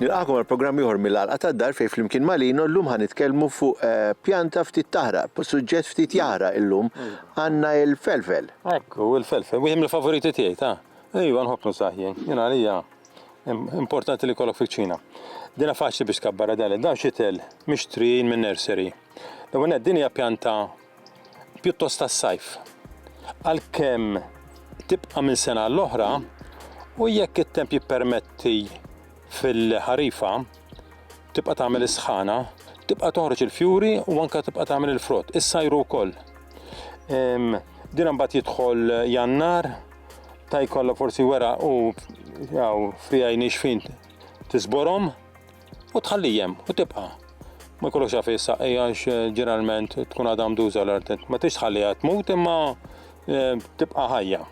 Nilqagħkom għal programm ieħor mill-Għalqa tad-Dar fejn flimkien ma' Lino llum ħa nitkellmu fuq eh, pjanta ftit taħraq, suġġett ftit jaħraq illum għandna il-felfel. Ekku, il-felfel, wieħed mill-favoriti tiegħi ta'. Ejwa nħobb nusaħ jien, jien għalija importanti li jkollok fiċ-Ċina. Dina faċli biex tkabbar għadali, dawn xitel mixtrijin minn nursery. L-ewwel nett din hija pjanta pjuttost tas-sajf. Għalkemm tibqa' minn sena l-oħra u jekk it-temp jippermetti fil-ħarifa tibqa' tagħmel is-sħana, tibqa' toħroġ il-fjuri u anke tibqa' tagħmel il-frott, is-sajru wkoll. Din mbagħad jidħol jannar, Ta' jkollok forsi wera u jaw frijaj nixfin tisborom u tħallijem u tibqa. Ma jkollokx għafi s-saqqi għax eh, ġeneralment tkun għadha mduża l-art. Ma tix tħalliha tmut imma eh, tibqa ħajja.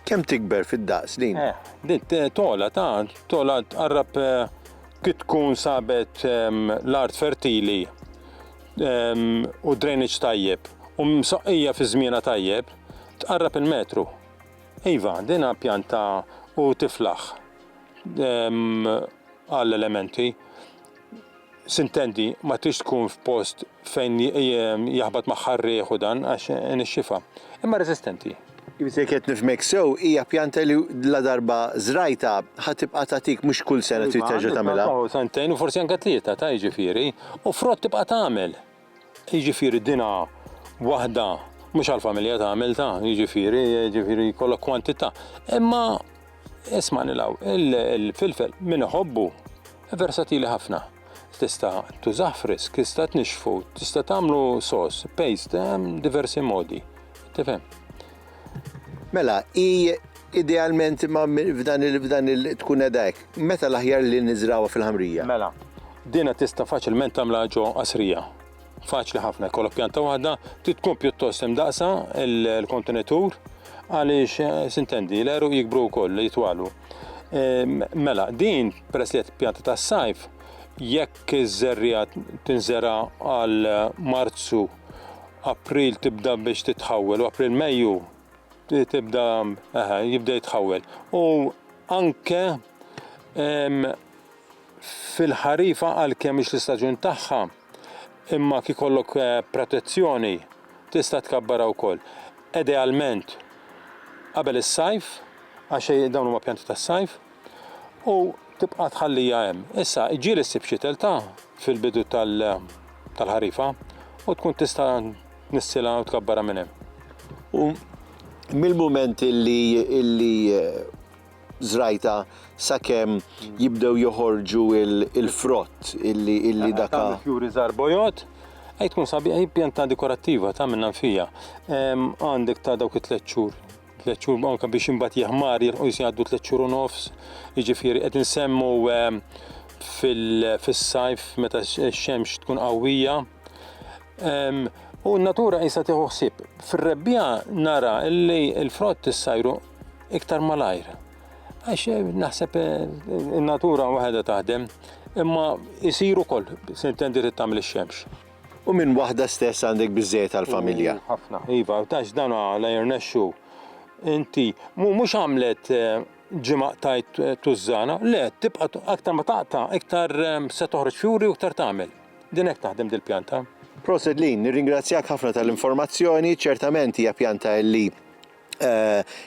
Kem tikber fid-daqs din? Eh, din eh, tola ta' tola tqarrab kif tkun sabet ehm, l-art fertili ehm, u drainage tajjeb u msaqqija fi żmiena tajjeb Tqarrab il-metru. Iva, din ha pjanta u tiflaħ għall-elementi. Sintendi, ma trix tkun f'post fejn jaħbat magħha r-riħ u dan għax inixxifha. Imma resistenti. Jiġifieri jekk qed nifhmek sew, hija pjanta li ladarba żrajtha ħa tibqa' tagħtik mhux kull sena trid terġa' tagħmilha. Iva, għandha sentejn u forsi anke tlieta ta' jiġifieri, u frott tibqa' tagħmel. jiġifieri dinha waħda mhux għall-familja ta' għamilta, jiġifieri, jiġifieri jkollok kwantità. Imma ismani law, il-filfel min iħobbu versatili ħafna. Tista' tużah frisk, tista' tnixxfu, tista' tagħmlu sos, paste, hemm diversi modi. Tifhem? Mela, hi idealment imma f'dan il f'dan il tkun qiegħda hekk. Meta l-aħjar li niżragħuha fil-ħamrija? Mela, din tista' faċilment tagħmilha ġo qasrija. Faċli ħafna, jkollok pjanta waħda, trid tkun pjuttost imdaqsa l-kontenitur għaliex sintendi, l-għeruq jikbru wkoll, jitwalu. Mela, din peress li qed pjanta tas-sajf, jekk iż-żerriegħa tinżera' għal Marzu April tibda biex titħawwel u April Mejju tibda aha, jibda jitħawwel. U anke fil-ħarifa għalkemm mhix l-istaġun tagħha, imma kif kollok eh, protezzjoni tista' tkabbara wkoll. Idealment qabel is-sajf, għax dawn huma pjanti tas-sajf, u tibqa' tħallija hemm. Issa ġieli ssib xi telta fil-bidu tal-ħarifa u tkun tista' tnissilha u tkabbarha minn hemm. U mill-mument illi illi żrajtha sakemm jibdew joħorġu l-frott illi illi dak. Tagħmel fjuri żgħar bojod, hi tkun sabiħa, hi pjanta dekorattiva, tagħmel nanfija. Għandek ta' dawk it-tliet xhur tliet xhur anke biex imbagħad jeħmar jilħu jgħaddu tliet xhur u nofs, jiġifieri qed insemmu ehm, fil-sajf meta x-xemx tkun qawwija. Ehm, u n-natura jisa tieħu ħsieb. Fir-rebbija nara li l-frott issajru iktar malajr. Għax eh, naħseb eh, in-natura waħedha taħdem, imma jisiru kol, se intendi tagħmel ix-xemx. U minn waħda stess għandek biżżejjed għall-familja. U ħafna. Iva, tax dan la jirnexxu. Inti mhux għamlet ġimgħa qtajt tużżana, le, tibqa' aktar ma taqta' iktar se toħroġ fjuri u iktar tagħmel. Din hekk taħdem dil-pjanta. Proset Lynn, nirringrazzjak ħafna tal-informazzjoni, ċertament hija pjanta li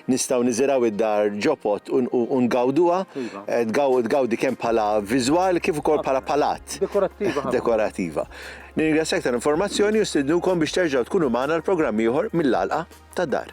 Nistgħu niżirgħu d-dar ġo pod u ngawduha. Tgawdi kemm bħala viżwal kif ukoll bħala palat. Dekorattiva ħafna. Dekorattiva. Nirringrazzjak tal-informazzjoni u nstidnukom biex terġgħu tkunu magħna għal programm ieħor mill-għalqa tad-dar.